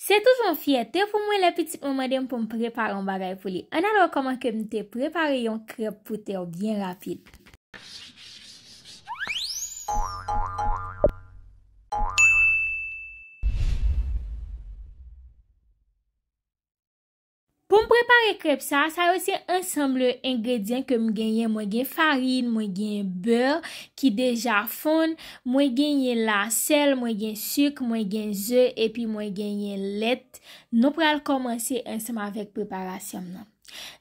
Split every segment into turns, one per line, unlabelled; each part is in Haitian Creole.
Se toujou yon fyète pou mwen lè pitit mwen mande m pou m prepare yon bagay pou li. Ann al wè kòman ke m te prepare yon krèp pou Teo byen rapid. Poum prepare krèp sa, sa yo se ansanm de engredyan kem genyen mwen gen farin, mwen gen beur ki deja fonn, mwen genyen la sèl, mwen gen suk, mwen gen ze epi mwen genyen lèt, nou pral kòmanse ansanm avèk preparasyonm nan.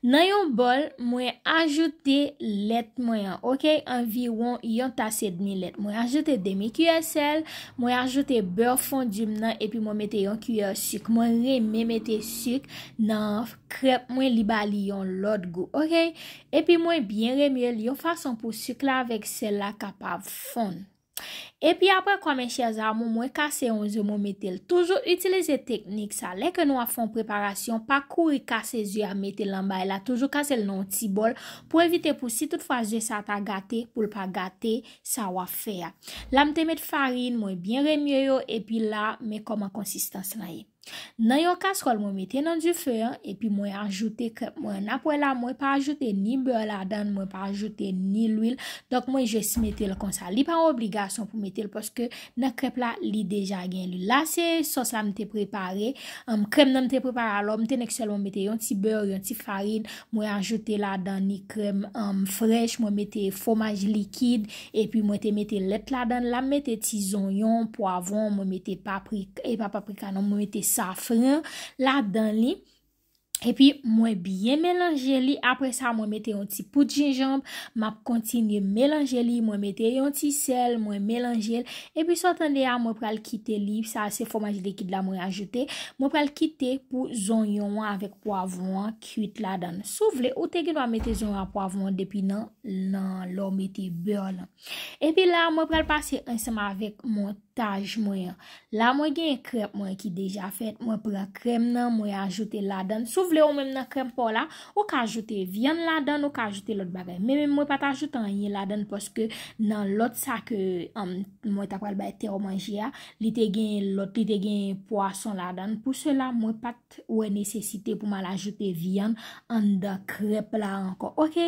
Nan yon bòl mwen ajoute lèt mwen an ok anviwon yon tas edmi lèt mwen ajoute demi kiyè sèl, Mwen ajoute beurre fondu m nan epi mwen mete yon kiyè suk. Mwen renmen mete suk nan krèp mwen li ba li yon lòt gou. Ok. Epi mwen byen remue l yon fason pou suk la avèk sèl la kapab fonn. Epi aprè kwa mes chers amours mwen kase yon ze mwen mete l. Toujou utilize teknik sa. Lè ke nou ap fè yon preparasyon pa kouri kase ze a mete l nan bay la. Toujou kase l nan yon ti bòl pou evite pou si tout fwa ze sa ta gate pou l pa gate. Sa wap fè a. La m te met farin, mwen byen remye yo epi la men kòman konsistans lan ye. Nan yon kastròl mwen mete nan dife an epi mwen ajoute krèp mwen an nap wè la mwen pa ajoute ni bè ladan mwen pa ajoute ni lwil donk mwen jes mete l konsa li pa yon obligasyon pou mete l paske nan krèp la li deja gen lwil la se sòs la m te prepare krèm nan m te prepare alò m te nèk sèlman mete yon ti bè yon ti farin Mwen ajoute ladan ni krèm frèch, mwen mete fwomaj likid, epi mwen te mete lèt ladan la, mete ti zonyon, pwavon, mwen mete paprika, e pa paprika non, mwen mete safran ladan li. Epi mwen byen melanje li, apre sa mwen mete yon ti poud jenjanm, map kontinye melanje li, mwen mete yon ti sèl, mwen melanje li, epi sa w tande a mwen pral kite li, sa se fwomaj likid la mwen ajoute, mwen pral kite pou zonyon an avèk pwavon an. kuit ladann. Si w vle, ou te gen dwa mete zon a pwavon an depi nan nan lè w mete bè lan. Epi la, mwen pral pase ansanm avèk montaj mwen an. La mwen gen krèm mwen ki deja fèt, mwen pran krèm nan, mwen ajoute ladann. Si w vle ou menm nan krèm pa w la, ou ka ajoute vyann ladann, ou ka ajoute lòt bagay. Men menm mwen pa ta ajoute anyen ladann paske nan lòt sa ke mwen ta pral bay tè w manje a, li te gen lòt, li te gen pwason ladann. Pou sela, mwen pa t. t wè nesesite pou m al ajoute vyann anndan krèp la ankò ok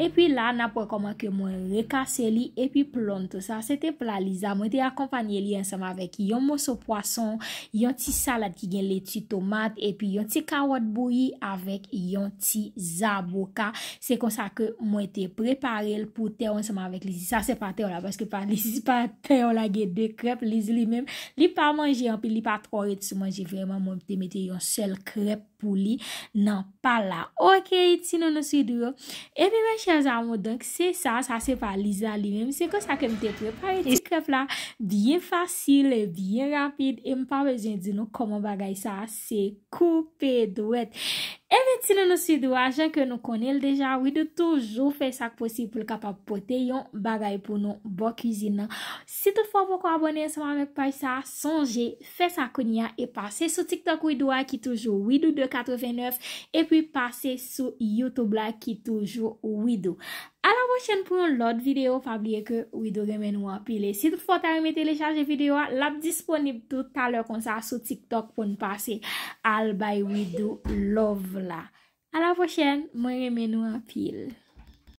epi la nap wè kòman ke mwen rekase li epi plonto sa se te pla Liza mwen te akonpanye li ansanm avèk yon moso pwason yon ti salad ki gen leti tomat epi yon ti kawòt bouyi avèk yon ti zaboka se konsa ke mwen te prepare l pou tè w ansanm avèk Lizi sa se pa tè w la paske pa Lizi pa. Pè yo lage de krèp li di li menm li pa manje anpil li pa twò ret sou manje vrèman mwen te mete yon sèl krèp pou li nan pal la ok ti nounou swidou yo epi mes chers amours donk se sa sa se pa Lisa li menm se konsa ke m te prepare ti krèp la byen fasil e byen rapid e m pa bezwen di nou kòman bagay sa Se koupe dwèt. Enben ti nounou Sidou a jan ke nou konnen l deja Widoo toujou fè sa k posib pou l kapab pote yon bagay pou nou bò kizin nan. Si tout fwa w poko abòne ansanm avèk paj sa a sonje fè sa kounye a e pase sou tiktok Widoo a ki toujou widoo 2 89 epi pase sou youtube la ki toujou widoo. A la pwochèn pou yon lòt video pa bliye ke Widoo renmen nou anpil e si tout fwa w ta renmen telechaje video a lap disponib tou talè konsa sou tiktok poun pase al bay Widoo love la. A la pwochèn mwen renmen nou anpil.